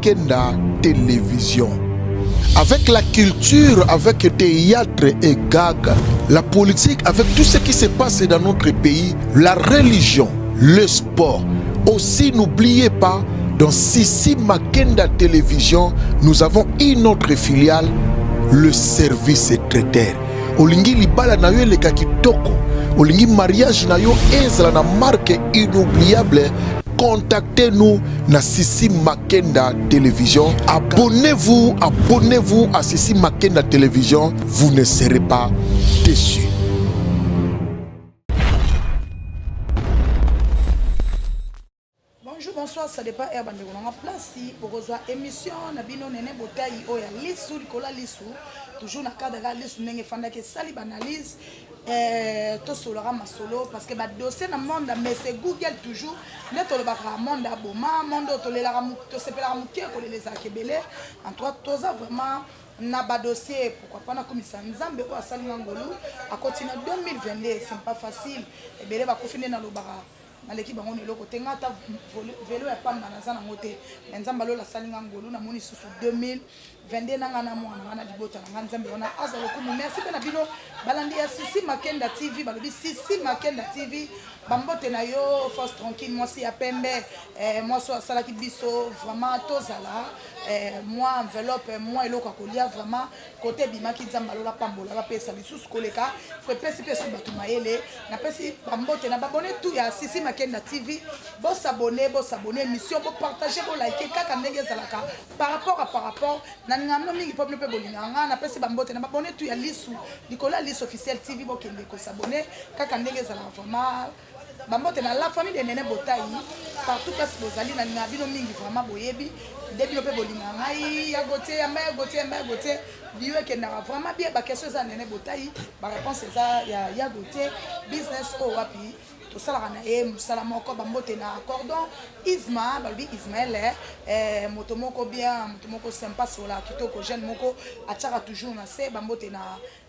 Kenda Television. Avec la culture, avec le théâtre et gag, la politique, avec tout ce qui se passe dans notre pays, la religion, le sport. Aussi, n'oubliez pas, dans Sissi Makenda Télévision, nous avons une autre filiale, le service traiteur. olingi libala na yo eleka kitoko olingi mariage na yo ezala na marque inoubliable Contactez-nous na Sissi Makenda Télévision. Abonnez-vous, abonnez-vous à Sissi Makenda Télévision. Vous ne serez pas déçus. Bonjour, bonsoir, ça dépend heure bande konanga place bokozwa émission na bino nene botayi oyo ya lisu likola lisu toujours na cadre ya lisu ndenge efandaki esali banalyse Eh, tosolaka masolo parce que badossier na monde ya mese google toujours nde tolobaka monde ya boma monde oyo tolelaka tosepelaka moke ya kolela ezalaka ebele en tout cas toza vraiment na badossier pourquoi pas nakomisa nzambe oyo asali nga ngolu akoti na 2022 c'est pas facile ebele bakufi nde nalobaka naleki bango na eloko te nga ata velo ya pamba naza nango te me nzambe alola asali nga ngolu namoni susu 2022 na nga na mwana nga na libota na nga nzambe wana aza lokumu merci mpe na bino balandi ya sisi makenda tv balobi sisi makenda tv bambote na yo force tranquille mwasi ya pembe eh, mwasi oyo asalaki biso vraiment tozala eh, mwa enveloppe mwa eloko ya kolia vraiment kote ebimaki nzambe alola apambola bapesa lisusu koleka epesi mpe su bato mayele napesi bambote na babone tu ya sisi makenda tv bosabone bosabone émission bopartage bolike kaka ndenge ezalaka par rapport a par rapport na ngamno mingi mpo bino mpe bolingaka ngai napesi bambote na babone tu ya lisu likolo ya lisu officiel tv bokende kosabone kaka ndenge ezalaka vraiment Ba mbote na la famille de Nene Botayi partout place bozali na linga bino mingi vraiment boyebi nde bino pe bolinga ngai ya Gauthier ya mère Gauthier ya mère Gauthier bio ekendaka vraiment bien ba question eza Nene Botayi ba réponse eza ya ya Gauthier business o oh, wapi tosalaka na ye mosala moko bambote na cordon isma balobi ismael eh, eh, moto moko bien moto moko sympa sola kitoko jeune moko atiaka toujours na se bambote na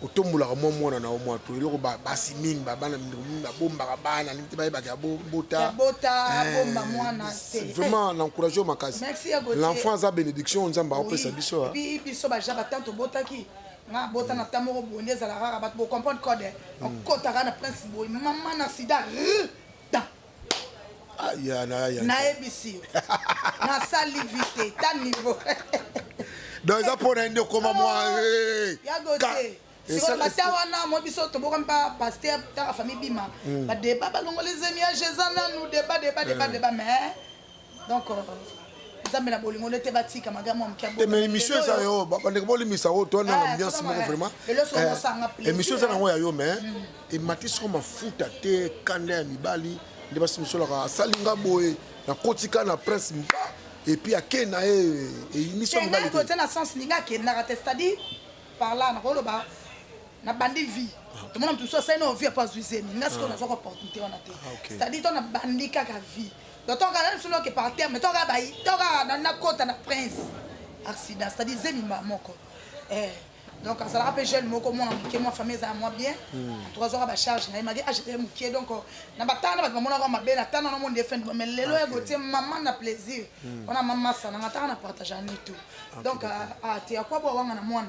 kotombolaka mwa mwana na yo mwa to eloko basi mingi babana mindeko mingi babombaka bana ndenge te bayebaka ya bobota vraiment na encourage yo makasi l'enfant aza bénédiction nzambe akopesa biso biso baja batan tobotaki nga bota na ta moko boye nde ezalaka kaka bato bocomprendre code okotaka na prince boye mama na sida nayebisi yo nasali vite ta niveau donc eza mpo na ye nde okoma mwa oh, eh, eh, sikolata wana mo biso toboka mpa paster taka famille bima hmm. badeba balongoli zemi ya jeza nanu deba deba deba deba mais donc euh, nzambe na bolingo nde te batika maga mwa moke te mais émission eza yo bandeko bolimisa oyo toa na ambiance moko vraiment émission eza nango ya yo mais emati soko mafuta te kanda ya mibali nde basi mosolaka asali nga boye nakotika na prince mba epuis akei na ye eyinisi mibali te na sens ninga akendaka te c'est-à-dire par là nakoloba nabandi vie tomona moto mosusu asali na ovie mpo azwi zemi nga sikoyo nazwaka opportunité wana te c'est-à-dire to nabandi kaka vie totoka nanu solo ke par terme toka bayi toka na na kota na prince accident c'est à dire zemi mba moko eh donc azalaka mpe jeune moko mwana moke mwa famille ezala mwa bien hmm. en tout cas azwaka bacharge na ye maki age eye moke donc euh, na batanga na bato bamonaka mabe na tanga na monde efende mais lelo ya gotie mama na plaisir hmm. wana mama sana nga tanga na partage ani tout donc euh, ah, te ya kwa bwa wanga na mwana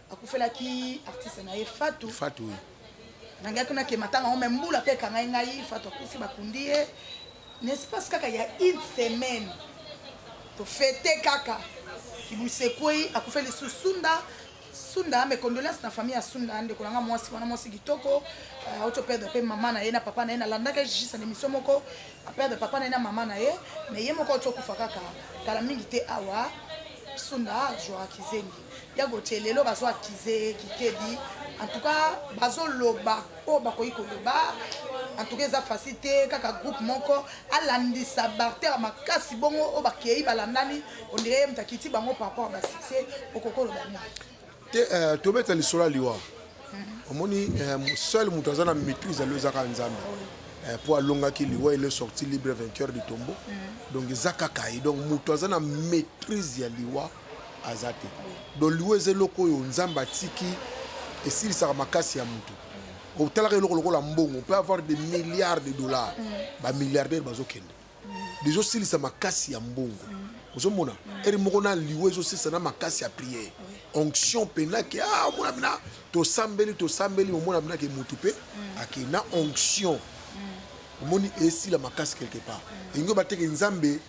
akufelaki artiste na ye fatu fatu oui. nangaki kuna ke matanga yango me mbula mpe ekangai ngai fatu akufi bakundi ye na espace kaka ya une semaine tofete kaka kibusekwei akufe lisusu sunda sunda mes condoléances na famille ya sunda ndeko nanga mwasi wana mwasi kitoko euh, auto perdre mpe mama na ye na papa na ye nalandaka juste na émission moko aperdre papa na ye na mama na ye mais ye moko auti okufa kaka kala mingi te awa sunda azwaka kizengi ya gotie lelo bazo akize ye kikebi en tout cas bazoloba oyo bakoki koloba en tout cas eza facile te kaka groupe moko alandisa barter makasi bongo oyo bakei balandani ondire ye moto akiti bango par rapport basuccès okoki koloba nini te euh, tobeta lisolo ya liwa mhm. omoni euh, seul moto aza na maîtrise alo ezaka nzambe mpo euh, alongaki liwa ele sorti libre vainqueur du tombeau mhm. donc eza kaka ye donc moto aza na maîtrise ya liwa aza te donc liwa eza eloko oyo nzambe atiki esilisaka makasi ya motu otalaka eloko lokola mbongo mpe avoir des milliards de dollars mm. bamilliardaire bazokende mm. ezosilisa makasi ya mbongo mm. ozomona ere moko na liwa ezosilisa na makasi ya priere onction mpena ke ah, omona bina tosambeli tosambeli omona bina ke motu mpe ake na onction omoni esila makasi quelque part elingi obateke nzambe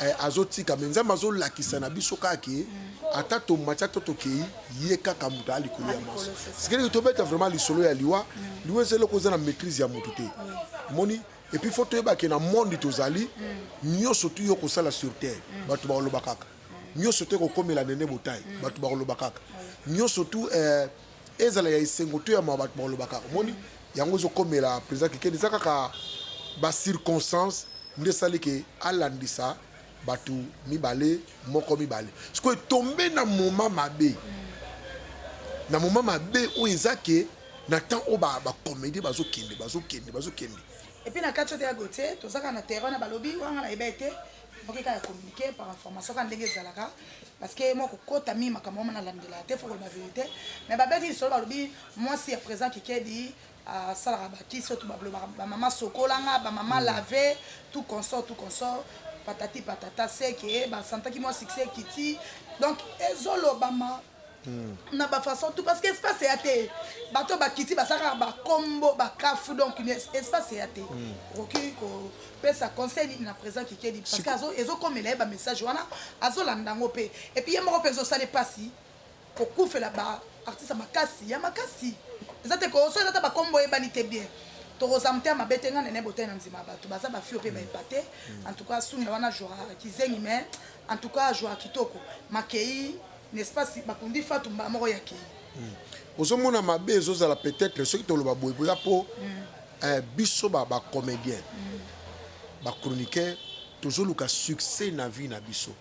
eh, azotika me nzambe azolakisa na biso kaka ke ata tomati ata tokei ye kaka moto aya likolo ya maso sikeleki tobeta vraiment lisolo ya liwa liwa eza eloko eza na maîtrise ya moto te omoni epuis fo toyeba ke na monde tozali nyonso tuyo kosala sur terre bato bakoloba kaka nyonso te kokomela nene botai bato bakoloba kaka nyonso tu eh, ezala ya esengo to ya mawa bato bakolobaka omoni yango ezokomela président kikedi eza kaka bacirconstance nde esali ke alandisa bato mibale moko mibale sikoyo etombe na moma mabe na moma mabe oyo eza ke na temps oyo bacomédie bazokende bazokende bazokende epuis na kati oyo te ya gotie tozaka na terrain na balobi wanga na ebe te oke kaka communiquer par information kaka ndenge ezalaka parce que moi kokota mingi makambo wana nalandela te fo koloba verité mais babeti lisolo balobi mwasi ya présent kikedi asalaka bakisi oyo bablobaka bamama sokolanga bamama mm. lave tout consort tout consort patati patata seke basantaki mwa succès ekiti donc ezolobama Hmm. na bafaçon tout parce que espace eya te bato bakiti basalaka bakombo bakafu donc espace eya te hmm. okoki kopesa conseil nini na présent kikedi parce que ezokomela ye bamessage wana azolanda yango mpe epuis ye moko mpe ezosala mpasi kokufela baartiste makasi ya makasi eza te koso eza ta bakombo oyebani te bien tokozwa motema mabe te ngai nene botali na nzima bato baza bafio mpe baepate hmm. en tout cas sunda wana jouaka kizengi mais en tout cas jouaka kitoko makei n'est-ce pas si bakundi fatu mbala moko ya kei hmm. ozomona mabe ezozala peut-être soki toloba boye boza mpo hmm. eh, biso bacomédien hmm. bachroniqueur tozoluka succès na vie na biso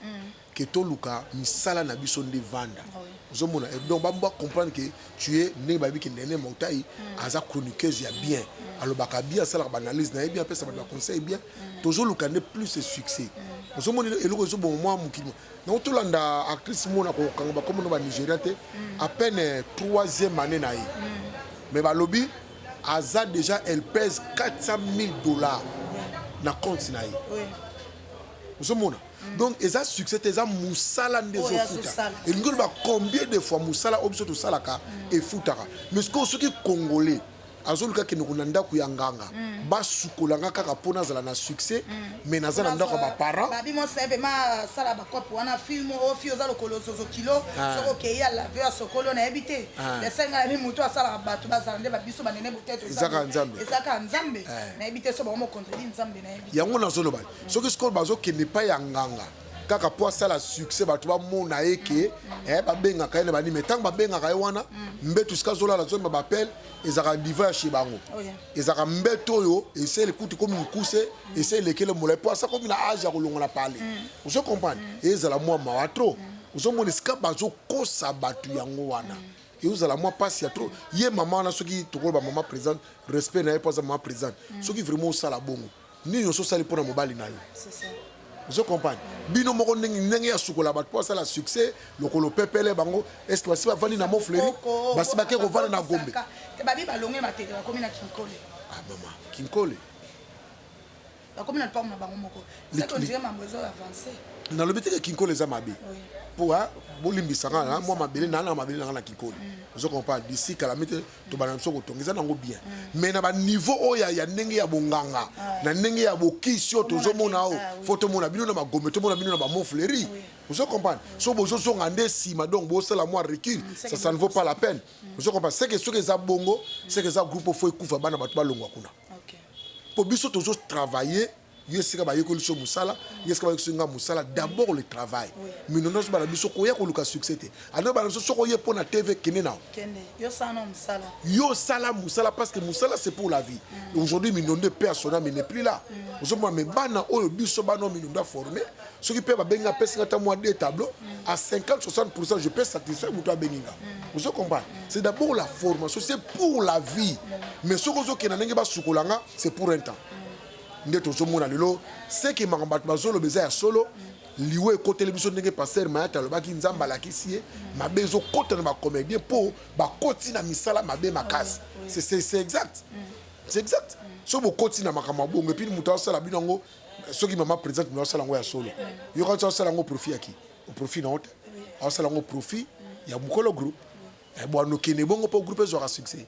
ke toluka misala na biso nde vanda ah ozomona eh, donc bambo comprendre que tu es ndenge bayebi ke ndene mautai aza chroniqueuse ya bien alobaka bien asalaka baanalyse na ye bien apesa bato baconseil bien tozoluka nde plus succès ozomona eloko ezobongo mwa mokili donc tolanda actrice mona kokanga bakomo no banigeria te mm. à peine troisième année na ye mm. mais balobi aza déjà elle pèse 400 000 dollars na compte na ye ozomona mm. donc eza succès te eza mosala nde ezofuta elingi oloba combien de fois mosala oyo biso tosalaka efutaka mais sikoyo soki congolais azoluka kendeko na ndako ya nganga mm. basukola nga kaka mpo nazala na succès mm. mais naza na ndako ya baparent babi mwasi naye mpema asala bakope wana film o fi oza lokolo zozo kilo ah. soki okei ya lave ya sokolo nayebi te ah. esenga na mi motu asalaka bato bazala nde babiso banene boteto ezaka nzambe ezaka nzambe eh. nayebi te so bango mokontredi nzambe nayebi yango nazoloba soki sikoyo bazokende epai ya nganga kaka mpo asala succès bato bamona ye ke eh, babengaka ye na banime ntango babengaka ye wana mbetu sika azolala zomba bapele ezalaka diva ya chez bango oh, ezalaka mbete oyo esi elekuti komi mokuse esi elekele molai mpo asa komi na age ya kolongola pale mm. ozo comprendre mm. ezala mwa mawa trop mm. ozomona esika bazokosa bato yango wana eozala mwa mpasi ya trop ye mama wana soki tokoloba mama présente respect na ye mpo aza mama présente soki vraiment osala bongo nini oso sali pona mobali na yo ozo comprendre bino moko ndenge ndenge ya sukola bato mpo asala succès lokolo pepele bango est ce que basi bavandi na mofleri basi bake kovanda na gombe babi balonge matete bakomi na kinkole ah mama kinkole bakomi na lopango na bango moko satondire mambo ezo avance nalobi teke kinkole eza mabe mpo bolimbisaka mwa mabele naa na mabele nanga na kinkole mm. ozo comprendre disi kala mite tobanda biso kotonga eza nango bien mais na baniveau oyo ya ndenge ya bonganga na ndenge ya bokisi oyo tozomona oyo ah fo tomona bino na magome tomona bino na bamonfleri ozo comprendre so bozozonga nde nsima donc bosala mwa recul mm, ça ça ne vaut pas la peine mm. ozo comprendre seke soki eza bongo seke eza groupe fo ekufa bana bato balongwa kuna mpo biso tozotravaille yo esika bayekoli so mosala yo esika bayekoli nga mosala d'abord le travail mino nyonso bana biso koya koluka succès te ando bana biso soki oye mpo na tv kende nao yo sala mosala parce que mosala c'est pour la vie mm. aujourd'hui minondo epe asona mais n'est plus là mm. ozomona mais bana oyo biso bana oyo minondo aforme soki mpe babengi nga apesi nga ata mwa de tableau à 50 60 pourcent je peux satisfaire moto abengi nga mm. ozo comprendre c'est d'abord la formation c'est pour la vie mais soki ozokenda ndenge basukola nga c'est pour un temps nde tozomona lelo seke makambo bato bazoloba eza ya solo liwa ekoteli biso ndenge paster mayata alobaki nzambe alakisi ye mabe ezokota na bacomédien mpo bakoti na misala mabe makasi c'est exact c'est exact so bokoti na makambo ya bongo epini moto asala bino yango soki mama présente moto asala yango ya solo yoka nso asala yango profit yaki oprofit na yo te asala yango profit ya mokolo groupe eh, bwanokende bongo mpo groupe ezwaka succès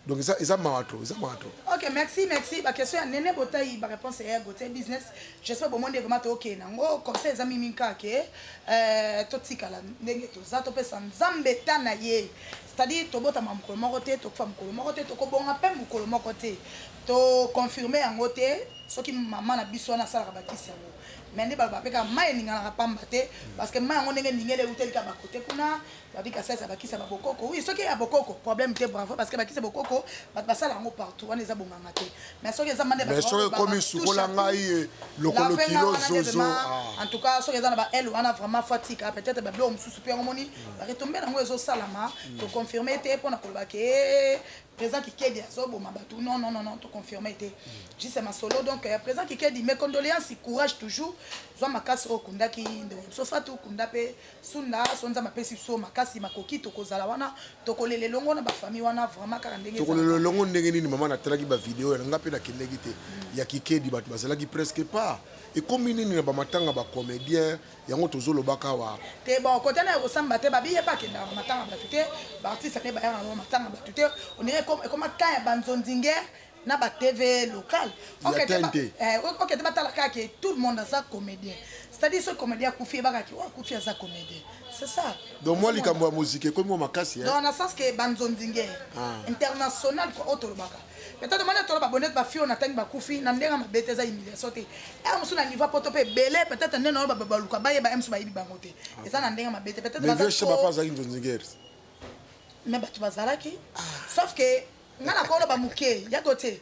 donc eza eza mawa trop eza mawa trop ok merci merci ba question ya nene botayi ba réponse ya gote business j'espère bo monde vraiment to ke nango conseil eza mimi kake euh to tikala ndenge to za to pesa nzambe ta na ye c'est-à-dire to bota ma mukolo moko te to kufa mukolo moko te to ko bonga pe mukolo moko te to confirmer yango te soki mama na biso wana asalaka bakisi yango mais nde baloba pe kaka mai eninganaka pamba te parce que mai yango ndenge eningeli euteli kaka bakote kuna Babi Kasai ça bakisa ba bokoko. Oui, soki ya bokoko, problème te bravo parce que bakisa bokoko, bat basala ngo partout, wana eza bonganga te. Mais soki eza mande ba. Mais soki komi sukola ngai lokolo kilo zozo. Ah. En tout cas, soki eza na ba L wana vraiment fatika, peut-être ba blo mususu pe ngomoni, hmm. ba retomber ngo ezo salama, hmm. to confirmer te pona koloba ke eh, présent kikedi azoboma bato non non non non toconfirme te hmm. juste masolo donc euh, présent kikedi mes condoléances courage toujours zwa makasi oyo okundaki ndeko biso fatu okunda mpe Sunda so nzambe apesi biso makasi makoki tokozala wana tokolela elongo na bafami wana vraiment kaka ndenge tokolela elongo ndenge nini mama natalaki bavideo yana ngai mpe nakendeki te mm. ya kikedi bato bazalaki presque pas ekomi nini na bamatanga bacomédien yango tozolobaka awa te bon kota na ya kosamba te babiye bakendaka bamatanga bato te baartiste nde bayaka na bamatanga bato te onire ekoma ka ya banzonzingere na ba tv local okete batala kaka ke tout le monde aza comédien c'est-à-dire soki comédien akufi ebaka ke oyo akufi aza comédien c'est ça donc mwa likambo ya moziki ekomi mwa makasi donc na sens ke banzonzinge ah. international kua oyo tolobaka peut-être mwana tolo babonete bafi oyo natangi bakufi na ndenge mabe te eza humiliation te ere mosusu na niveau poto mpe ebele peut-être nde nayo baluka bayeba ye mosusu bayebi bango te ah. eza na ndenge mabe te peut-être mais bato bazalaki ah. sauf que nga nakoloba moke yako te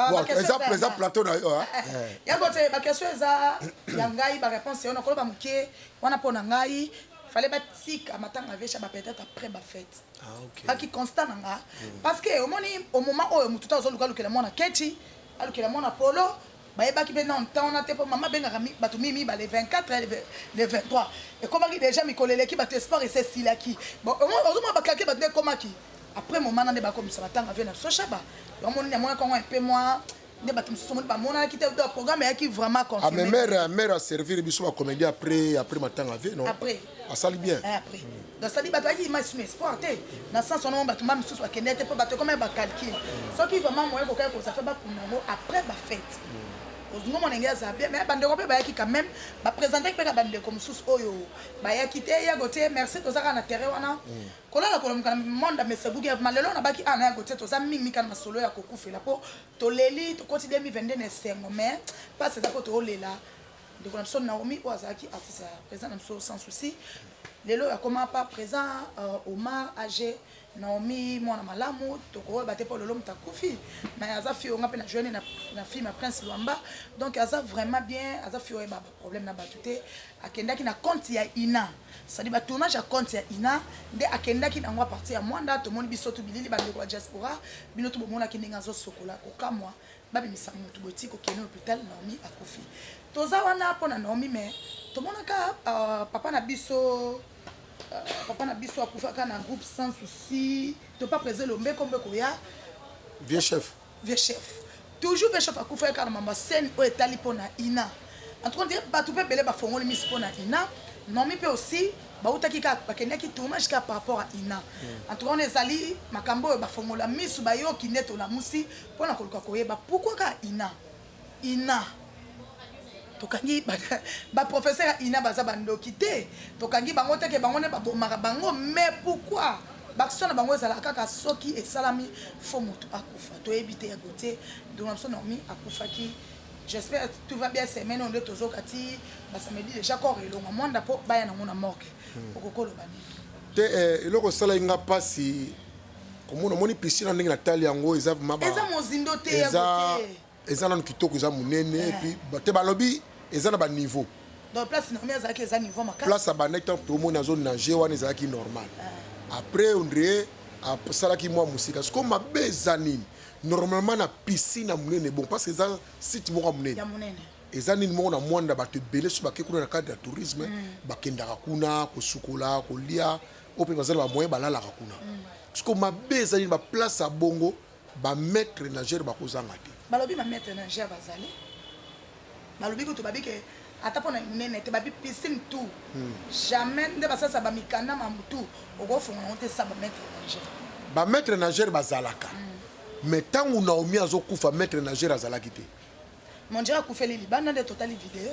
Ah, Bon, bakestion eza eza ya eza ngai. plateau na yo ah. Eh, yango te bakestion eza ya ngai baréponse wana koloba moke wana mpo na ngai fale batika matanga vecha ba peut-être après ba fête Ah, ok. baki constat na nga parce que omoni au moment oyo motu ta ozoluka alukela mwana kechi alukela mwana polo Bayebaki pe nanu temps wana te po mama abengaka batu mi mibale 24 le 23 ekomaki deja mikolo eleki batu espoir esi esilaki ozomona ba calcul batu nde ekomaki après moment na nde bakomisa batanga vie na biso shaba yango moni namonaki yango mpe mwa nde bato mosusu moni bamonaki te donc programme eyaki vraiment confirme amemere amere aservir biso bacomédien après après matanga vie non après asali bien eh, après nasali bato ayaki image na espoir te na sens wana bato ma misusu bakendeki te mpo bato ekoma ya bacalcule soki vraiment moye kokaki kozala mpe bakuna yango après bafete ozingo monenge aza bien mais bandeko mpe bayaki quand même bapresentaki mpe ka bandeko mosusu oyo bayaki te ya gotie merci toza kaka na terrain wana mm. kolala kolomuka na monde mesebuki ma lelo nabaki ana ah, ya gotie toza mingi kana masolo ya kokufela mpo toleli tokoti 2022 na esengo mais mpasi eza mpo toolela ndeko na biso naomi oyo azalaki artiste ya présent na biso sans souci lelo oyo akoma pa présent euh, omar age naomi mwana malamu tokoyeba te mpo lelo moto akufi me aza fio nga mpe na joine na film ya prince lwamba donc aza vraiment bien aza fio oyeba baproblème na bato te akendaki na compte ya ina cestadi batournage ya compte ya ina nde akendaki na yango apartir ya mwanda tomoni biso to bilili bandeko ya diaspora bino to bomonaki ndenge azosokola kokamwa babimisa motu boti kokende hôpital Naomi akufi toza wana mpo na Naomi mais tomonaka uh, papa na biso uh, papa na biso akufaka na groupe sans souci to pas présent lombe kombe koya vieux chef vieux chef toujours vieux chef akufaki kaka na mamba scène oyo etali mpo na ina en tout cas ndire bato mpe ebele bafongoli misi mpo na ina Naomi mpe aussi bautaki kaka bakendaki tournage kaka par rapport à ina hmm. en tout cas wana ezali makambo oyo bafongola misu bayoki nde tolamusi Mpo na koluka koyeba pourquoi ka ina ina tokangi baprofesseur ya ina baza bandoki te tokangi bango te ke bango nde babomaka bango mais pourquoi baction na bango ezalaka kaka soki esalami fo motu akufa toyebi te ya gotie ndeko na biso normi akufaki j'espère tout va bien semaine oyo nde tozoka ti basamedi déjà corps elonga mwanda mpo baya nango na morgue hmm. okokoloba nini te eh, eloko esalaki nga mpasi komona omoni piscine ndenge natali yango eza eza mozindo te eza eza nanu kitoko eza monene eh. epuis te balobi eza na baniveau place abandaki ntango tomoni azo nage wana ezalaki normal eh. après ondre asalaki mwa mosika siko mabe eza nini normalement na piscine ya monene bon parce que eza site moko ya monene eza nini moko na mwanda bato ebele so bake kuna na cadre ya tourisme mm. bakendaka kuna kosukola kolia oyo mpe baza na bamoyen balalaka kuna siko mabe eza nini baplace ya bongo bamaitre nagere bakozanga te balobi bamaitre nagere bazali balobi kutu babi ke ata mpona minene te babi piscine tout hmm. jamais nde basalisa bamikanda mambo tout okofunga yango te sa bamaitre nagere bamaitre nagere bazalaka hmm. mais ntango naomi azokufa maitre nagere azalaki te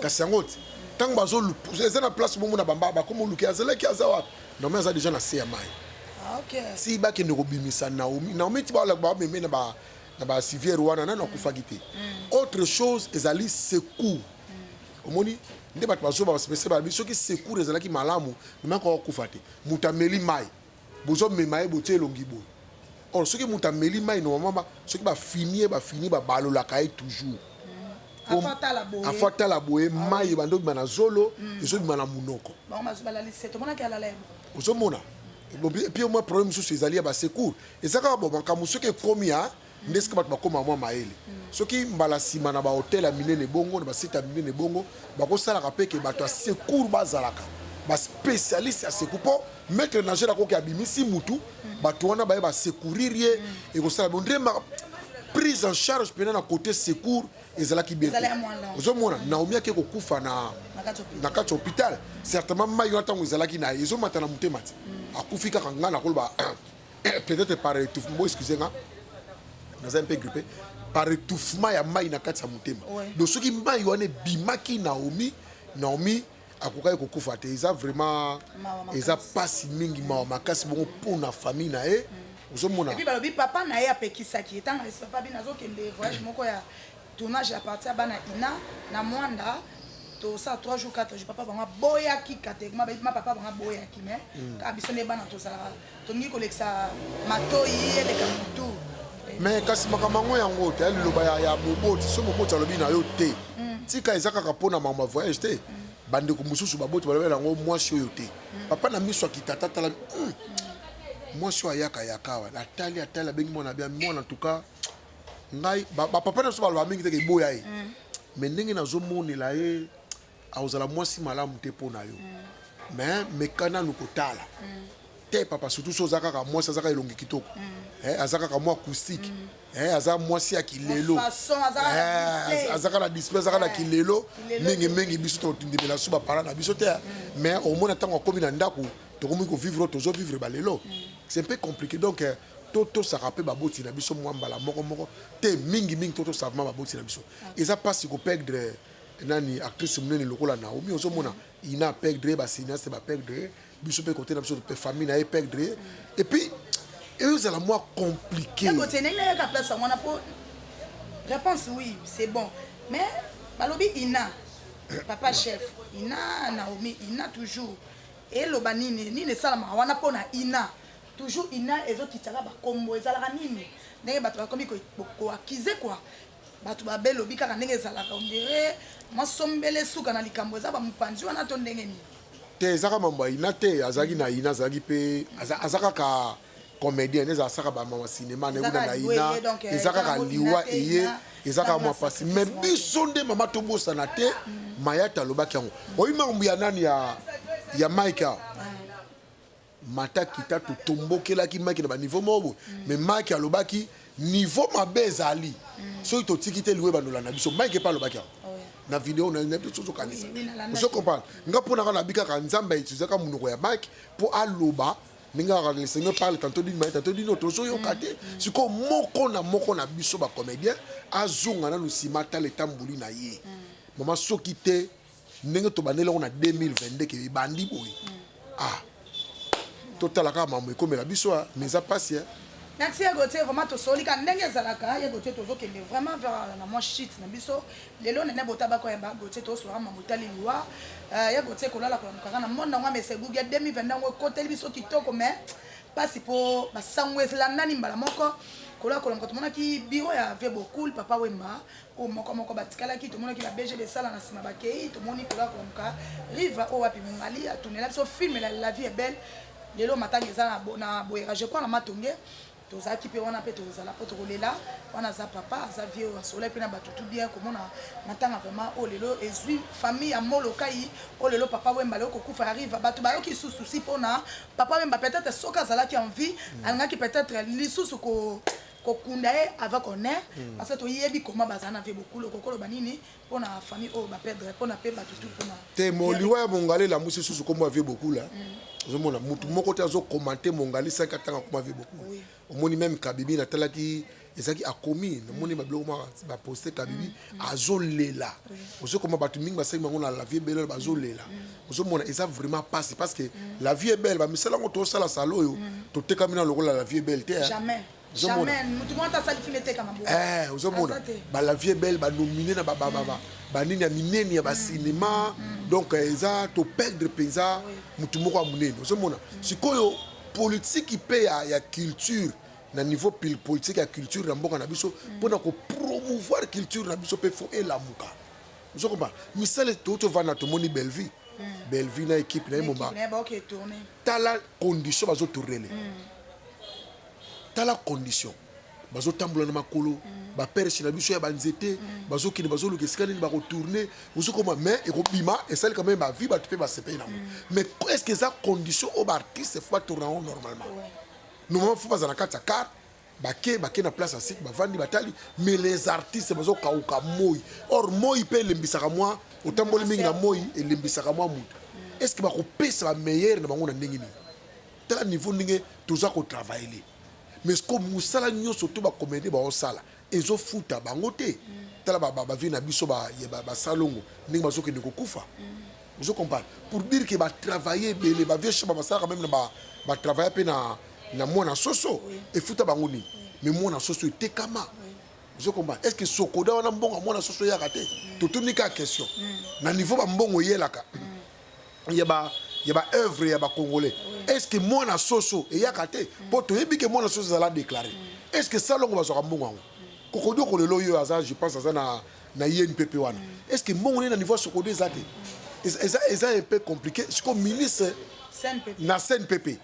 kasi yango ti ntango bazoluka eza na place bongo na bamba bakoma oluki azalaki aza wapi naomi aza deja na se ya mai ah, ti bakende kobimisa naomi naomi ti bameme na basiviere wana nani akufaki te mm. autre chose ezali secours mm. omoni nde bato bazoba basepese balobi soki secours ezalaki malamu namekoka kufa te moto ameli mai Bozo mema ye botie elongi boye or soki mutu ameli mayi normalement soki ba fini ye ba fini ba balolaka ye toujours afo atala boye mai ebanda obima na zolo mm. ezobima na monoko ozomona epuis mwa problème mosusu ezali ya basecour eza kaka bo makambo soki ekomi ya nde sika bato bakoma mwa mayele soki mbala nsima na bahotel ya minene bongo na basite ya minene bongo bakosalaka mpe ke bato ya secour bazalaka baspecialiste ya secour mpo maitre nagel akoki abimisi mutu bato wana baye basecourir ye ekosala bo nde prise en charge mpena na cote secour ezalaki bien ozomona naomi ake kokufa na na kati ya hôpital certainement mai wana ntango ezalaki na ye ezomata na motema ti akufi kaka ngai nakoloba peut-être par étouffement bo excusez nga naza un peu grippé par étouffement ya mai na kati ya motema donc soki mai wana ebimaki naomi naomi akokaki kokufa te eza vraiment eza mpasi mingi mawa makasi bongo mpo na famille na ye mm. ozomona balobi papa na ye apekisaki ye ntango papa bino azokende voyage moko ya tournage ya parti ya bana ina na mwanda tosala 3 jours 4 jours papa bango aboyaki katekma bayebi ma papa bango aboyaki mai mm. kaka biso nde bana tozalaka tolingi kolekisa matoi eleka motu mais kasi makambo yango yango te liloba ya moboti so moboti alobi na yo te mm. tika eza kaka mpo na makambo ya voyage te mm. bandeko mosusu baboti balobela yango mwasi oyo te papa na miso akitata atala mwasi oyo ayaka yaka awa atali atali abengi mwana bia mwana tuka ngai bapapa na biso baloba mingi teke eboya ye mm. mais ndenge nazomonela ye akozala mwasi malamu te mpo na yo mm. mais meka nanu kotala mm. te papa surtout so oza kaka mwasi aza kaka elongi kitoko eh, aza kaka mwa acoustique eh, aza mwasi ya kilelo eh, aza kaka na display aza kaka na kilelo mingi mingi biso tondimela so bapara na biso te mais omona ntango akomi na ndako tokomi kovivre tozovivre balelo c'est un peu compliqué donc euh, totosaka mpe baboti na biso mwa mbala moko moko te mingi mingi totosaka ma baboti na biso eza mpasi koperdre nani actrice monene lokola naomi ozomona ina perdre basineaste baperdre biso mpe kote na biso mpe famille na ye perdre epuis ezala mwa compliqué réponse oui c'est bon mais balobi ina papa chef ina naomi ina toujours eloba nini nini esalamaka wana mpo na ina Toujours ina ezo kitaka ba kombo ezalaka nini ndenge bato bakomi ko accuser quoi bato babe lobi kaka ndenge ezalaka on dirait mwa sombele suka na likambo eza ba mopanzi wana to ndenge nini te eza kaka mambo ya ina te azalaki na ina azalaki mpe aza kaka comédien nde ezasaka bamama cinéma naekuna na ina eh, eza kaka liwa eye eza kaka mwa mpasi me biso nde mama tobosana te mm. mayata alobaki yango oyi makambo ya nani ya mike awa mata kita totombokelaki maki na baniveau moko boye mm. mais maki alobaki niveau mabe ezali mm. soki totiki te liwa ebandola na biso mike epa alobaki yango oh, na video na nayebi te ozokanisa ozo comprendre nga mpo naka nabi kaka nzambe autilisaka monoko ya mike mpo aloba ndenge kaka le seigneur parle tantôt d'une manière tantôt d'une autre ozoyoka te mm. sikoyo moko na moko na biso bacomédien azonga nanu nsima atala etamboli na ye mama soki te ndenge tobandeli yango na 2022 ke ebandi boye ah totala kaka mambo ekomela biso ah, mais eza mpasi eh. merci ya gautier vraiment tosoli ka ndenge ezalaka ya gautier tozokende vraiment vers na mwa shit na biso lelo nene botabako ya ba gautier tosolaka mambo etali liwa euh, ya gautier kolala kolamukaka na monde yango amesegugi ya 2020 yango ekoteli biso kitoko mais mpasi mpo basango elandani mbala moko kola kolamuka tomonaki biro ya vebocool papa wemba oyo moko moko batikalaki tomonaki ba bg besala na nsima bakei tomoni kola komka riva oyo wapi mongali atunela biso filme la, la vie est belle lelo matanga eza na boyera je crois na matonge tozalaki mpe wana mpe tozala mpo tokolela wana aza papa aza vie oyo asolai mpe na bato tu bien komona matanga vraiment oyo oh, lelo ezwi famille ya molokai oyo oh, lelo papa wemba leo kokufa ya riva bato bayoki lisusu susi mpona papa wemba peut-être soki azalaki en vie mm. alingaki peut-être lisusu ko kokunda ye avec honneur hmm. parce que toyebi koma bazala na vie bokulu kokoloba nini mpo na famille oyo baperdre mpo na mpe bato tu mpona te moliwa ya mongali elamusi susu nkombo ya vie bokula hmm. ozomona motu moko te azokomante mongali saki atanga nkoma vie bokula omoni meme kabibi natalaki ezalaki akomi namoni babiloko mwa baposte kabibi hmm. azolela ozokoma bato mingi basali bango na la vie belle bazolela ozomona eza vraiment pasi parce que la vie belle bamisala yango tosala sala oyo totekami na lokola la vie belle te ozomona bala vie belle banomine na babababa banini ya minene ya basinema donc eza toperdre mpenza motu moko ya monene ozomona sikoyo politiki mpe ya culture na niveau pile politique ya culture na mboka na biso mpo na kopromouvoir culture na biso mpe fo elamuka ozo komba misala touti ovanda tomoni bellevue hmm. bellevue na équipe na ye moba tala condition bazotournele hmm. tala condition bazotambola na makolo hmm. baperche na biso ya banzete bazokende bazoluka esika nini bakotourne ozokoma mai ekobima esali quand même bavie bato mpe basepeli nango mais est ce que eza condition oyo baartiste fo batourna yango normalement ouais. Normalement faut baza na kati ya car bake bake na place ya site bavandi batali mais les artistes bazokauka moi or moi mpe elembisaka mwa otamboli mingi na moi elembisaka mwa moto est ce que bakopesa bameilleur na bango na ndenge nini tala niveau ndenge toza kotravaille mais ko mosala nyonso to bakomede baosala ezo futa bango te tala ba ba vie na biso ba ya ba, ba salongo ndenge bazo kende kokufa ozo comprendre pour dire que ba travailler ebele ba vieux shaba basalaka même na ba ba travailler pe na na mwana soso efuta bango nini mais mwana soso etekama ozo comprendre est-ce que sokoda wana mbongo mwana soso yaka te totuni ka question na niveau ba mbongo yelaka ya ba ya ba œuvre ya ba congolais est ce que mwana soso eyaka te mpo toyebi ke mwana soso ezala déclaré est ce que salongo bazwaka mbongo yango kokodioko lelo oyo aza je pense aza na na inpp wana est ce que mbongo nde na niveau ya sokodo eza te eza eza un peu compliqué sikoyo ministre na cnpp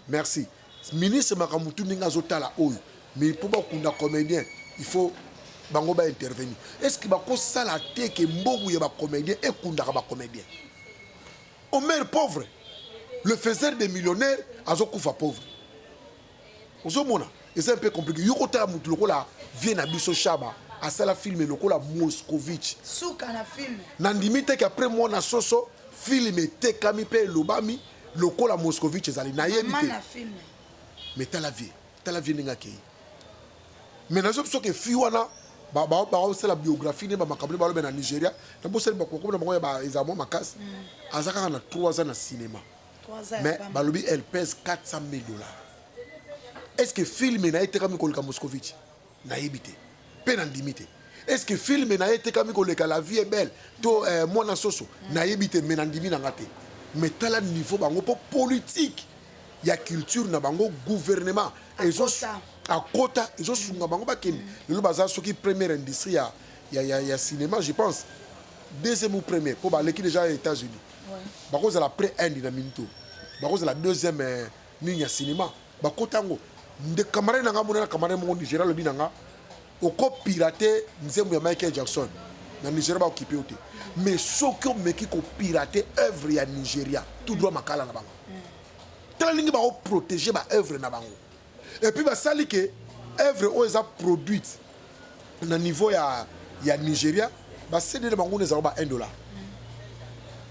Merci. Ministre makambo tu ndenge azotala oyo mais mpo bakunda comédien il faut bango ba intervenir est ce que bakosala te ke mbogu ya bacomédien ekundaka bacomédien omer pauvre le faiseur de millionnaire azokufa pauvre ozomona eza mpe compliqué yo kotala motu lokola vie na biso shaba asala filme lokola moscovitch suka na filme nandimi te ke après mwana soso filme etekami mpe elobami lokola moscovitch ezali nayebi te mais tala vie tala vie ndenge akei mais nazo biso ke fi wana baosala biographie nde bamakambo nde balobe na nigeria na bosali bakokoma na bango ya eza mwa makasi mm. aza kaka na 3 ans na cinéma mais balobi elle pèse 400 000 dollars est ce que filme na ye tekami koleka moscovitch nayebi te mpe nandimi te eske filme na ye etekami koleka la vie est belle to eh, mwana soso nayebi te me nandimi na nga te me tala niveau bango mpo politike ya culture na bango gouvernement ezo akota ezosunga bango bakende lelo baza soki première industrie ya, ya, ya, ya cinéma je pense deuxième ou première mpo baleki déjà états-unis bakozala près inde na minito bakozala deuxième eh, nini ya cinéma bakota yango nde camarade na nga monana camarade moko nigeria alobi na nga okopirate nzembo ya michael jackson na nigeria baokipe yo te mais soki omeki kopirate œuvre ya nigeria tout droit makala na bango tala ndenge baoprotege baœuvre na bango epuis basali ke œuvre oyo eza produite na niveau ya, ya nigeria basede na bango na ezalaka ba 1 dollar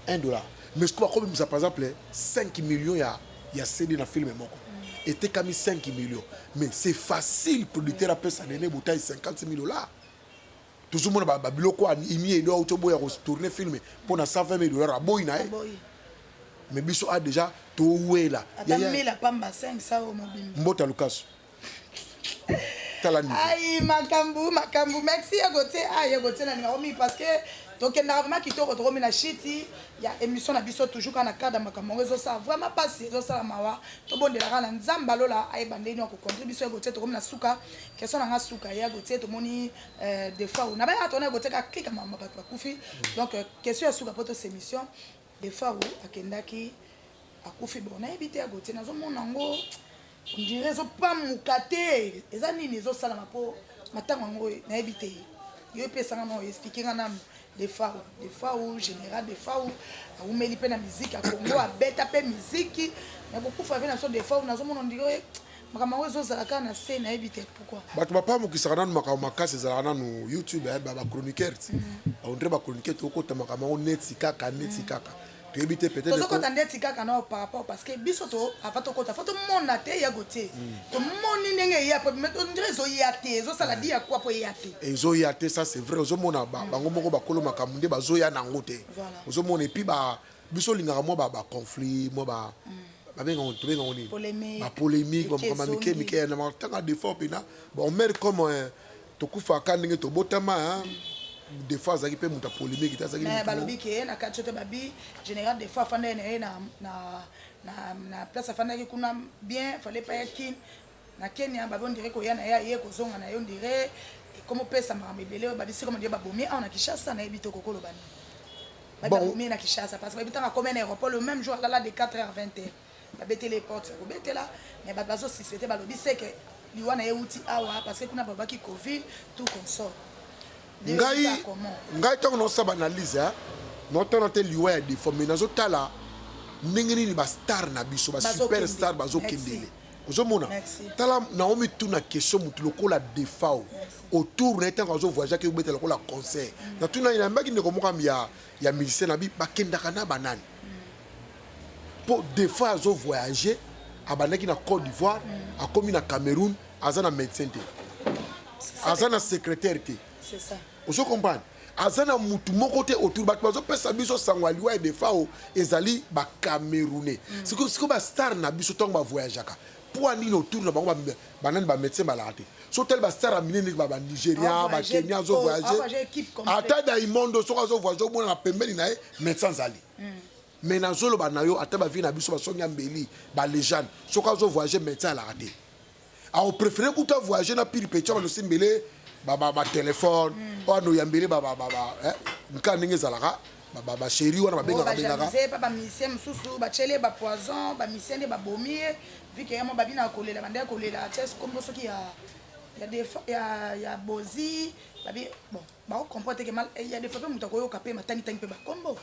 1 dollar mais soki bakobimisa par exemple 5 million ya ya CD na film moko etekami 5 millions mais c'est facile producteur apesa Nene Butayi 50 000 dollars tozomona babiloko ba imi edo auti oboya kotourne filme mpo na 120 mille dollar aboyi na ye mais biso a ah, déjà towela mbota lukasu tala niveau ayi makambu makambu merci ya gote ah ya gote na ninga omi parce que tokendaka vraiment kitoko tokomi na shiti ya émission na biso toujours kaka na cadre ya makambo yango ezosala vraiment mpasi ezosala mawa tobondelaka na nzambe alola ayeba ndenge nini akokontre biso ya gote tokomi na suka question na nga suka ya gote tomoni euh, defois na bayaka tona ya gote kaka klika mama bato bakufi donc euh, question ya suka mpo tosa émission Defaru akendaki akufi bon nayebi te ya Gauthier nazomona yango ondire ezopamuka te eza nini ezosalama mpo matango yango nayebi te yo epesanga na oexplike nga nanu defau defau général defau awumeli mpe na miziki ya kongo abeta mpe miziki nakokufa mpe na so defau nazomona ondire makambo yango ezozala kaka na se nayebi te pourquoi bato bapamukisaka nanu makambo makasi ezalaka nanu youtube eh, bachroniqueur ti baondre bachroniqueur tokota makambo yango neti kaka neti mm. kaka toyebi te peut-être ndeti kaka nao par rapport parce que biso to ava tokota fo tomona te ya gotie mm. tomoni ndenge eya po mais ondire ezoya te ezosala di ya kwa po eya te ezoya te ça c'est vrai ozomona mm. bango moko bakolo makambo nde bazoya na yango te ozomona epuis biso olingaka mwa ba ba conflit mwa ba babenga ngo tobenga ngo nini Polemique. ba polemique ba Eke makambo ya mike ezongi. mike na matanga des fois pena bon mère comme euh, tokufaka ndenge tobotama hein, des fois azalaki pe moto ya polemique te azalaki mais moto- balobi ke na kati ote babi général des fois afandaki na ye na, na, na, na place afandaki kuna bien fallait pas ya kin Na Kenya babi on dirait koya na ye aye kozonga na ye on dirait ekomi opesa makambo ebele oyo babisi koma dirait babomi awa na Kinshasa na yebi te okoki koloba nini babi babomi na Kinshasa parce que bayebi ntango akomi na aéroport le même jour alala de 4 heures 20 heures babeteli ye porte ya kobetela mais bato bazosisete balobi seke liwa na ye euti awa parce que kuna balobaki covid tout consort ngai ngai ntango naosala baanalyse eh, naotala te liwa ya defo mais nazotala ndenge nini bastar na biso basuperstar bazokendele ozomona tala naomi tuna question motu lokola defao autour na ye ntango azovoyage ake obeta lokola concert mm. na tuna ye nayambaki ndeko moko ya, ya musicien na bi bakendaka na banani mpo mm. defa azovoyage abandaki na côte d'ivoire mm. akomi na cameroun aza na médecin te aza na secrétaire te Ozo comprendre? Aza na mutu moko te autour batu bazo pesa biso sango ya liwa ya Defao ezali ba camerounais. Mm. Siko siko ba star na biso tango ba voyageaka poids nini autour na bango ba nani ba médecin balaka te so tali bastar ya minene ba ba nigéria ba kenya azo voyage ata daimondo soki azo voyage omona na pembeni na ye médecin azali hmm. mais nazoloba na yo ata bavie na biso basongi ya mbeli balégende soki azo voyage médecin alaka te ako préférer kuta voyager na pili petit bano simbele ba ba, ba téléphone mm. ono yambele ba ba ba, ba eh, nka ndenge ezalaka ba ba, ba chérie wana babengaka bengaka ba ba musicien mususu ba chele ba poison ba musicien de ba bomi vu que yamo babina kolela bande kolela chess kombo soki ya ya defa ya ya bozi babi bon bako comprendre que mal il y a des fois pe mutu akoyoka pe matangi tangi pe ba kombo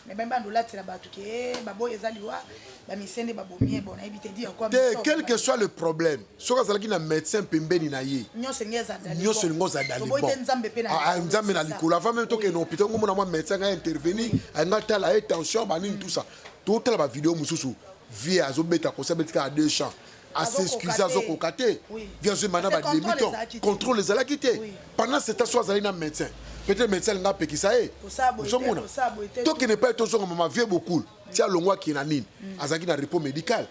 mais ben bando latela batu ke eh, baboy eza liwa ba misende ba bomie bon ayebi te dire quoi te quel que soit le problème soki azalaki na médecin pembeni na ye nyonso elingi ezadali nyonso elingi ozadali bon te nzambe pe na ah, ah, nzambe na likolo avant même tokende na hôpital ngomona mwa médecin ngai intervenir anga tala ye tension banini tout ça totala ba vidéo mosusu vie azobeta kosi abeti kaka deux champs asexcuse azokoka te vi azwi mana ba demi temps contrôle ezalaki te pendant ce temps so azali na médecin peut-être médecin alinga apekisa ye ozomona tokende epai tozonga mama vie bokul ti alongwa akee na nini mm. azalaki na repos médical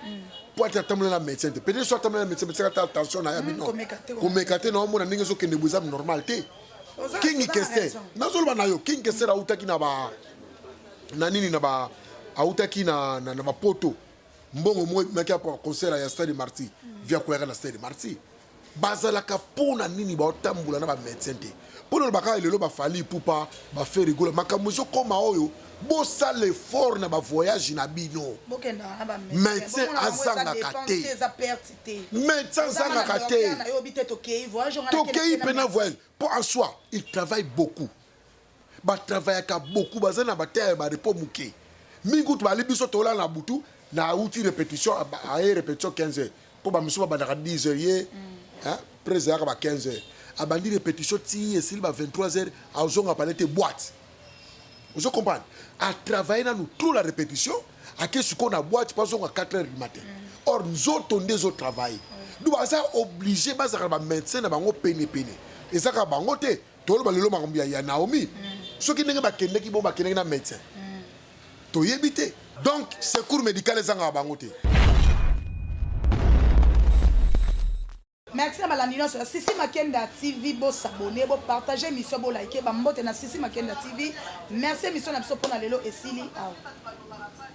mpo mm. ate atambola na médecin te peut-être so atambola na médecin médecin ata tension na ya mm, bino komeka te na omona ndenge ezokende bo eza normal te kingi kester nazoloba na yo kingi kester autaki na ba na nini na ba autaki na, na, na bapoto mbongo moko ebimaki ya concert ya stade marti via koyaka na stade marti bazalaka mpo na nini baotambola na bamédecin te mpo na bakaka lelo bafali pupa baferigola makambo ezokoma oyo bosala effort na bavoyage na bino médecin azangaka te médecin azangaka te tokei mpe na voyage mpo en soi il travaille beaucoup ba travaillaka beaucoup baza na ba terre ba repos muke mingi kutu bali biso tola na butu na uti repetition aye repetition 15 heures po ba misusu babandaka 10 heures ye hein prese yaka ba 15 heures abandi repetition ti esili ba 23 heures azonga pale te boîte ozo comprendre a travailler nanu trop la repetition ake sikoyo na boîte po azonga 4 heures du matin or nzoto nde ezo travailler donc baza oblige bazalaka na ba médecin na bango pene pene ezaka bango te toloba lelo makambo ya, ya naomi mm. soki ndenge bakendeki bo bakendeki na médecin mm. toyebi te donc secours médical ezangaka bango te merci na balandi nyonso ya sisi makenda tv bosabone bopartage émission bolike bambote na sisi makenda tv merci émission na biso mpona lelo esili awa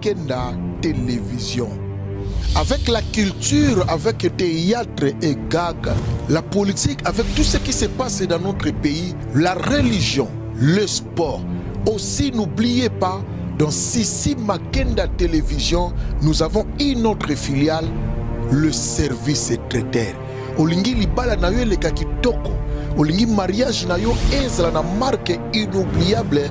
Kenda Television. Avec la culture, avec le théâtre et gag, la politique, avec tout ce qui se passe dans notre pays, la religion, le sport. Aussi, n'oubliez pas, dans Sissi Makenda Télévision, nous avons une autre filiale, le service traiteur. Olingi libala na yo eleka kitoko, olingi mariage na yo ezala na marque inoubliable